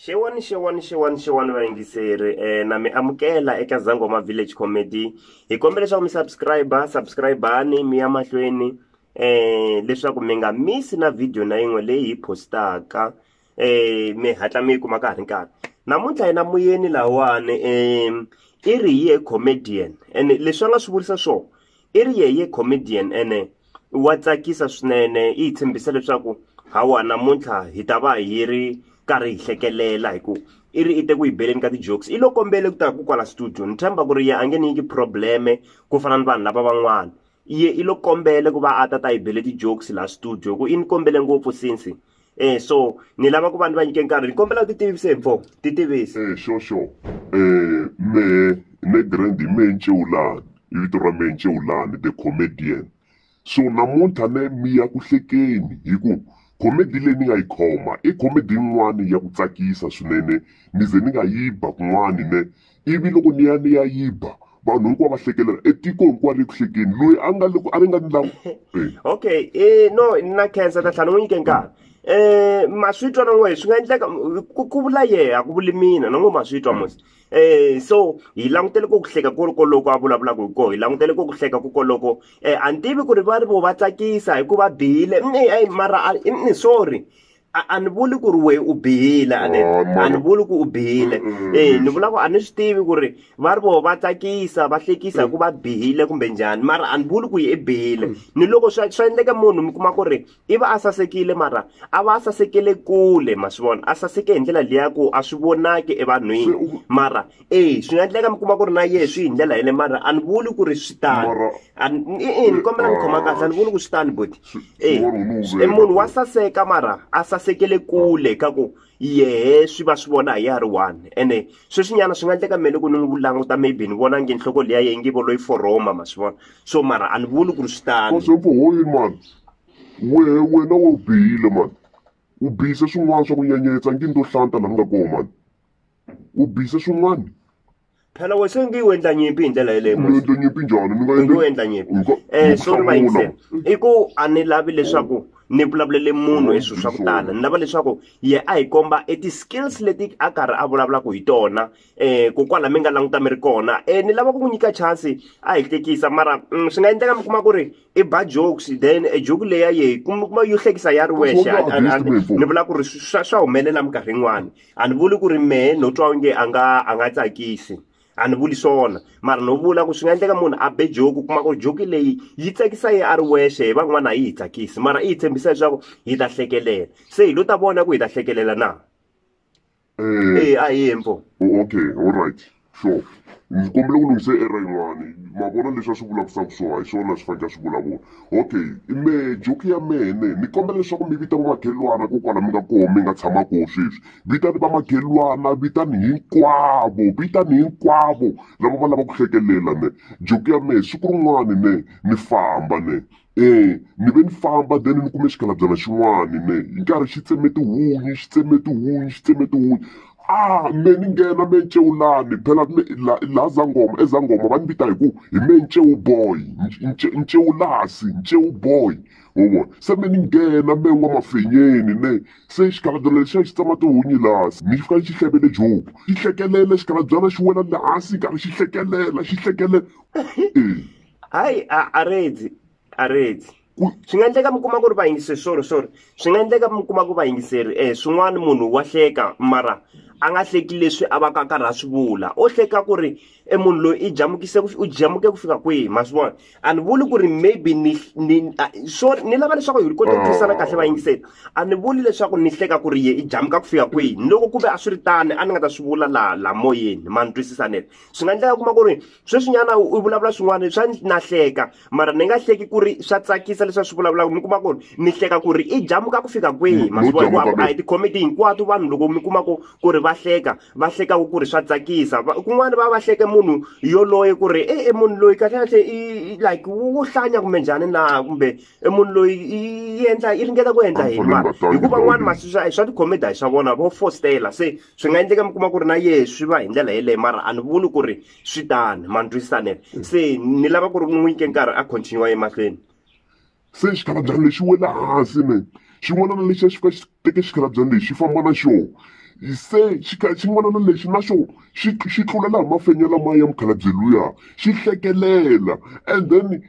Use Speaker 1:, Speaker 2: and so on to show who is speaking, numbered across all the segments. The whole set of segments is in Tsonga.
Speaker 1: xewani xewani xewani xewani vayingiseri um eh, na mi amukela eka zangoma village comedy hi kombela leswaku mi subscribe subscribani mi ya mahlweni um leswaku mi nga misi na vhidiyo na yin'we leyi hi postaka eh mi hatla mi yi kuma ka ha ri nkarhi namuntlha yena muyeni lawani um i ri ye comedian ene leswi a nga swi vurisa swona i ri ye ye comedian ene wa tsakisa swinene yi hi tshembisa leswaku hawa namuntlha hi ta va hi ri karhi hi hlekelela hi ku i ri i te ku yi beleni ka ti-jokes i lo kombele ku ta ku kwala studio ni tshemba ku ri ye a nge ni nyiki probleme ku fana ni vanhu lava van'wana iye i lo kombele ku va a ta ta yi bele ti-jokes laha studio hi ku i ni kombele ngopfu since Eh so ni lava ku va ni va nyike nkarhi ni kombela ti tivise mfo ti tivise. Eh sure sure.
Speaker 2: Eh me ne Grandi me Ncewulani i vito ra me Ncewulani the comedian. So namuntlha ne mi ya ku hlekeni hi ku comedy leyi ni nga yi khoma i comedy yin'wani ya ku tsakisa swinene ni ze ni nga yi ba kun'wani ne ivi loko ni ya ni ya yi ba vanhu hinkwavo va hlekelela etiko hinkwaro eku hlekeni loyi a nga loko a ri nga ni lawu okay
Speaker 1: um no na khensa ta tlhela ni n'wi nyike nkarhi um ma swi twa na n'we swi nga endleka ku vula yehe a ku vuli mina na n'we ma swi twa mos um so hi langutele ku ku hleka ku ri koloko a vulavulaka hi koho hi langutele ku ku hleka ku koloko um a ni tivi ku ri va ri vo va tsakisa hikuva bihile mara sorry a a ni vuli ku ri wehe u bihile a ni Oh, a mara- ni vuli ku u bihile Mm-mm. eh ni vula ku a ni swi tivi ku ri va ri voho va tsakisa va hlekisa hi ku va bihile kumbe njhani mara a ni vuli ku yi i bihile ni loko swa swa endleka munhu mi kuma ku ri i va a sasekile mara a va a sasekele kule ma swi vona a saseke hi ndlela liya ku a swi vonaki evanhwini mara eyi swi nga endleka mi kuma ku ri na yehe swi hi ndlela yele mara a ni vuli ku ri swi tani e-e ni kombela ni khoma kahle a ni vuli ku swi tani boti e e munhu wa saseka mara a sasekele kule ka ku yehe swi va swi vona hi ya ri one ene sweswinyana swi nga endleka mele ku ni n'wi languta maybe ni vona nge nhloko leyi ya yehe nge vo loyi foroma ma swi vona so mara a ni vuli ku ri swi tani
Speaker 2: wehe wena we u bihile mani u bihise swin'wana swa ku nyenyetsa ngi ni to hlanta laha ni nga kona mani u bise swin'wana phela we
Speaker 1: se ngi u endla nyimpi hi ndlela yeleyo ni endle nyimpi njhani ni
Speaker 2: nga ngi u endla nyimpi Nko- um
Speaker 1: sorry va yingisela i ku a ni lavi leswaku ni vulavulele munhu hi swilo swa ku tala ni lava leswaku ye a hi komba e ti-skills leti a karhi a vulavulaka hi tona um ku kwala mi nga languta mi ri kona um ni lava ku n'wi nyika chance a hi hlekisa mara mm, swi nga endleka mi kuma ku ri i ba jokes then e joke leya yehi kuma yo hlekisa ya ri wexe That's what I- I- I- understand, ni vula ku ri swa swa humelela minkarhi yin'wani a ni vuli ku ri mehe no twa onge a nga a nga tsakisi a ni vuli swona mara no vula ku swi nga endleka munhu a be joki kuma ku joki leyi yi tsakisa ye a ri wexe hi van'wana a yi hi tsakisi mara i hi tshembisa leswaku hi ta hlekelela se hi lo ta vona ku hi ta hlekelela na mm. e a hi hembo okay all right
Speaker 2: sure ndzi kombela ku lunghise era yin'wani ma vona leswi a swi vulavisaka swona hi swona swi fanekele swi vulavula okay mehe joki ya mehe ne ni kombela leswaku mi vita vamakhelwana ko kwala mi nga koho mi nga tshama koho sweswi vitani vamakhelwana vitani hinkwavo vitani hinkwavo lava va lava ku hlekelela ne joki ya mehe siku rin'wani ne ni famba ne. Eya ni ve ni famba then ni kume xikalabyana xin'wani mehe hi nkarhi xi tseme tihunyi xi tseme tihunyi xi tseme tihunyi a me ni nghena me nceu lani phela me la la zangoma ezangoma va ni vita hi ku hi me nceu boy nceu lasi nceu boy ho vona se me ni nghena me n'wamafenyeni ne se xikalabyana lexiya xi tsema tihunyi lasi ni fika ni xi hlevele jobo xi hlekelela xikalabyana xi wela le hansi karhi xi hlekelela xi hlekelela e
Speaker 1: hayi a a redzi a redzi swi nga endleka mi kuma ku ri vayingiseri sorry sorry swi nga endleka mi kuma ku vayingiseri um swin'wana munhu wa hleka mara a nga hleki leswi a va ka karhi a swi vula o hleka ku ri e munhu loyi i jamukise u jamuke ku fika kwihi ma swi vona a ni vuli ku ri maybe ni ni so ni lava leswaku hi kota ku twisana kahle vayingiseri a ni vuli leswaku ni hleka ku ri ye i jamuka ku fika kwihi ni loko ku ve a swi ri tani a ni nga ta swi vula la la moyeni ma ni twisisaneke swi nga endleka kuma ku ri sweswinyana u vulavula swin'wana swa na hleka mara ni nga hleki ku ri swa tsakisa leswi swi vulavulaka mi kuma ku ri ni hleka ku ri i jamuka ku fika kwihi masiku a hi tikhomedi hinkwato vanhu loko mi kuma ku ku ri va hleka va hlekaka ku ri swa tsakisa kun'wana va va hleke munhu yoloye ku ri e munhu loyi kahlekahle i like wu hlanya kumbe njhani na kumbe e munhu loyi i endla i ringeta ku endla yini mara hikuva n'wana maswi swa tikhomedi a hi swa vona vo fostela se swi nga endleka mi kuma ku ri na yehe swi va hi ndlela yeleyo mara a ni vuli ku ri swi tani ma ni twisisanele mm. se ni lava ku ri n'wi nyike nkarhi a continue emahlweni se
Speaker 2: xikalabyana lexi wela hansi me xin'wana na lexi a xi fika xi teke xikalabyana lexi xi famba na xona se xin'wana na lexi na xona xi xi tlula laha mafenya lamaya ya mukhalabye luya xi hlekelela and then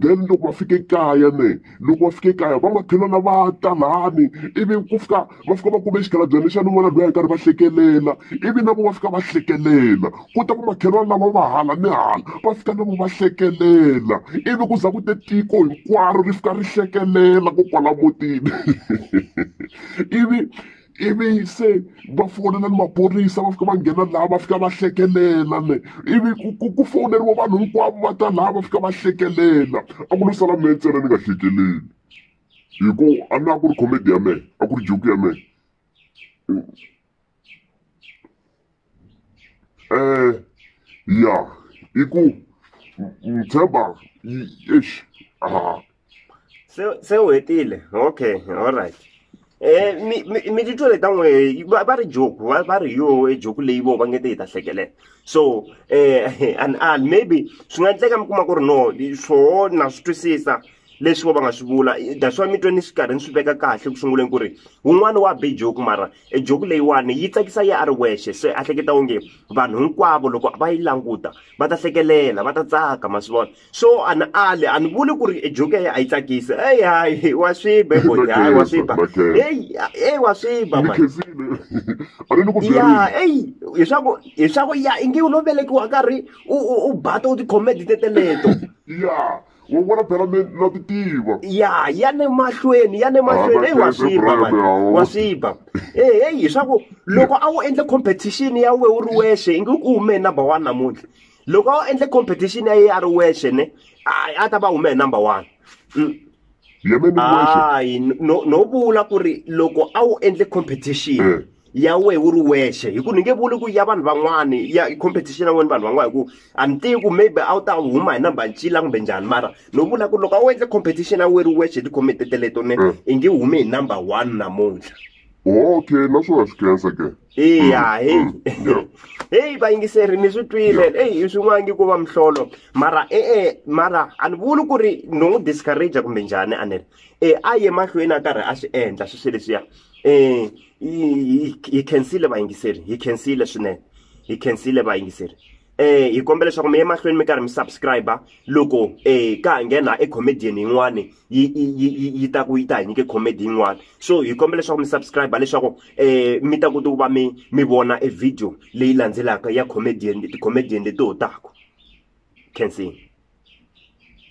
Speaker 2: then loko va fike kaya ne loko va fike kaya va makhelwani va ta lani ivi ku fika va fika va kume xikalabyana lexa ni n'wana loyi a karhi va hlekelela ivi na vo va fika va hlekelela ku ta ku makhelwani lava va hala ni hala va fika na vo va hlekelela ivi ku za ku te tiko hinkwaro ri fika ri hlekelela ko kwala mutini ivi ivi se va fonela ni maphorisa va fika va nghena laha va fika va hlekelela ne ivi ku ku fowuneriwa vanhu hinkwavo va ta laha va fika va hlekelela a ku lo sala mehe ntsena ni nga hlekeleli hi ku a na ku ri comedy ya mehe a ku ri joke ya mehe Eh ya i ku ni tshemba yi eish ah.
Speaker 1: se se u hetile okay alright Eh, mi mi mi titwa le ta n'we va va ri joku va va ri yo e joku leyi vo va nge te hi ta hlekelela so eh and and maybe swi nga endleka mi kuma ku ri no swoho na swi twisisa leswi vo va nga swi vula that's why mi twe ni swi karhi ni swi veka kahle ku sunguleni ku ri wun'wana wa be joku mara e joku leyiwani yi tsakisa yi a ri wexe se a hleketa onge vanhu hinkwavo loko va yi languta va ta hlekelela va ta tsaka ma swi vona so a ni ali a ni vuli ku ri e joku ya a yi tsakisi eyi hayi wa swiba eboti hayi wa swiba eyi eyi wa swiba ma ya eyi hileswaku hileswaku ya ingi u lo velekiwa karhi u u u bata u tikhomedi teteleto ya
Speaker 2: wa vona phela mi na ti tiva ya ya le
Speaker 1: mahlweni ya le mahlweni eyi wa swiba wa swiba eheyi hi swa ku loko a wu endle competition ya we wu ri wexe ingi ku hume hi number one namuntlha loko a wu endle competition ya ye a ri wexe ne a ta va hume hi number one mm. hayi no vula ku ri loko a wu endle competition eh. ya wehe u ri wexe hi ku ni nge vuli ku ya vanhu van'wani ya competition ya wena vanhu van'wana hi ku a ni tivi ku maybe a wu ta huma hi number ncila kumbe njhani mara no vula ku loko a wu endle competition ya wehe ri wexe hi tikhomete teleto ne mm. i nge hume hi number one namuntlha okay
Speaker 2: naswona swi khensa ke iya heyi mm, mm,
Speaker 1: heyi vayingiseri ni swi twile eyi i swin'wangi ku va mihlolo mara e-e mara a ni vuli ku ri no n'wi discourage kumbe njhani a ni ri e a ye mahlweni a karhi a swi endla swi swi leswiya um hi hi khensile vayingiseri hi khensile swinene hi khensile vayingiseri eh hi kombela leswaku mi emahlweni mi karhi mi subscribe loko eh ka ha nghena e comedian yin'wani yi yi yi ta ku yi ta hi nyike comedy yin'wani so hi kombela leswaku mi subscribe leswaku eh mi ta kota ku va mi mi vona e video leyi landzelaka ya comedian ti-comedian leti ho taku khensile